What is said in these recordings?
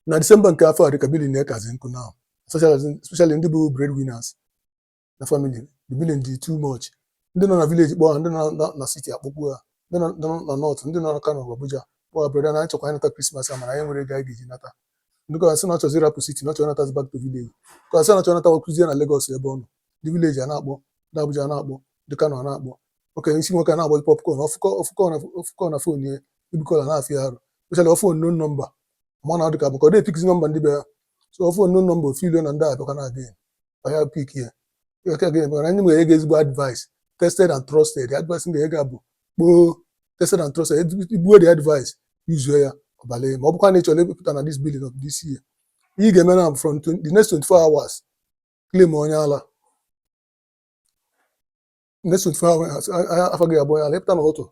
na disemba nke afọ a dịka billing na-ekazi nkụ now especially ndị bụ breadwinners na family the billing dị too much ndị nọ na village kpọọ ha ndị nọ na- na city akpọkwuo ha ndị nọ nọ na north ndị nọ na kano ma abuja kpọọ ha brother na anyị chọkwa anyị nata krismas a mana anyị nwere ego anyị ga-eji nata ndị kọwa sị na ọ chọzi ịrapụ city na ọ chọrọ natazi back to village kọwa sị na ọ chọrọ natawa kụzie na lagos ebe ọ nọ ndị village a na-akpọ ndị abuja a na-akpọ ndị kano a na-akpọ okay isi nwoke na-agbazi popcorn ọ fụ call na phone ya ịpick call a na-afịa arụ especially ọ fụ unknown number ma na adịka maka ọ dịghị epickizi number ndị be ya so ọ fụ unknown number o feeluo na ndị abịakwa na adịghị ọya pick ya ị ghọtago maka na ndị nwere ego ezigbo advice tested and trusted advice ndị ego bụ kpoo tested and trusted igbuo the advice yuzuo ya ọbala ma ọ bụkwa na ị chọrọ ịpụta na this billing of this year ihe ị ga-eme na from the next 24 hours claim onye ala next 24 hours a- a- afa gị abụọ onye ala ịpụta n'ụtụtụ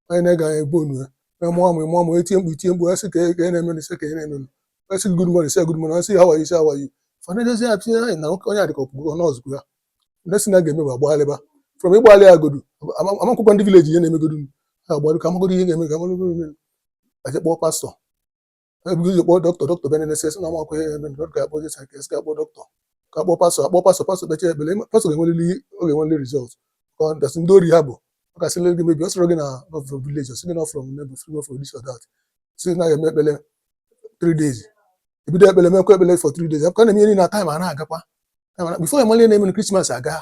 onye na-ege anya egbu onu ya onye mụọ amụ ị mụọ amụ etie mkpu itie mkpu asị ka e- ka e na-emenụ sị ka e na-emenụ asị gị good morning sị ya good morning asị ya how are you sị how are you fa na-edozi ya tinye anyị na nwoke onye a dịka ọ pụgo ọ nọọsụ ya next thing a ga-eme bụ agbagharịba from ịgbagharị agodu ama- amakwụkwọ ndị village ihe na-emegodu ha agbarụ ka amagodo ihe ga-eme ka amagodo ihe ga-eme. A jee kpọọ pastọ ebu ụzọ kpọọ dọkịta dọkịta bịa na-enesi esi na ọnwa nkwe ebe ndị dọkịta akpọ jesa ka esi ka akpọ dọkịta ka akpọ pastọ akpọọ pastọ pastọ kpechaa ekpele pastọ ga-enwerịrị ọ ga-enwerịrị result ka ọ dasị ndị ori ha bụ ọ ga-asị gị maybe ọ sịrị gị na ọ from village ọ sị gị na from neighbor sịrị gị from this or that sị na ya eme ekpele three days ebido ekpele mekwa ekpele for three days ka na-eme ihe niile na time a na-agakwa before a mali na-eme na krismas agaa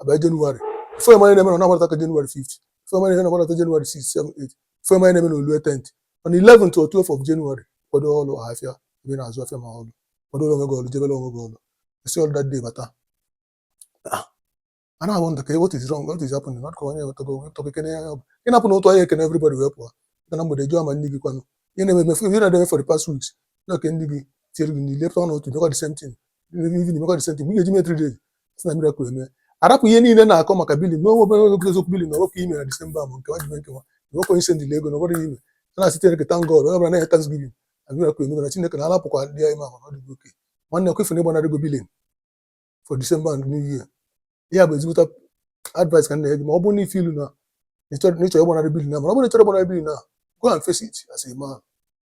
abịa jenụwarị before ị ma na-eme na ọ na-agbadata ka jenụwarị 5 before ị ma na-eme na ọ na-agbadata jenụwarị 6 7 8 before ị ma na-eme na o lue tenth on 11 or 12 of jenụwarị kwado ọlụ ahafịa ebe ị na-azụ afịa ma ọlụ kwado onwe gị ọlụ jebere onwe gị ọlụ i si ọlụ that day bata a na-awonder ka what is wrong what is happening not ka onye wetago onye tọka ekene ya bụ ị na-apụ na ụtụtụ ahịa ekene everybody wee pụọ ga na mgbede jụọ ma ndị gị kwanụ ihe na-eme emefu ihe na-eme for the past weeks na okay ndị gị tinyere gị n'ile pụta n'ụtụtụ mekwa the same thing evening mekwa the same thing mgbe ị ga-eji mee three days a sị na miracle eme arapụ ihe niile na-akọ maka billing a onwe obere oge eziokwu billing a ọwepụ ime na disemba ma nke nwajibe nke nwa enwekwa onye sendịla ego na ọbụrụ ime a na-asị chineke thank God onye ọbụla na-enye thanksgiving na miracle emego na chineke na alapụkwa ndị anyị ma ọ dịgo okay nwanne ọ bụ ife na ịgbanarị ego billing for disemba and new year ya bụ ezigbo advice ka m na-enye gị ma ọ bụrụ na ị feel na ịchọrọ ịgbanarị billing a ma ọ bụrụ na ịchọrọ ịgbanarị billing a go and face it as a man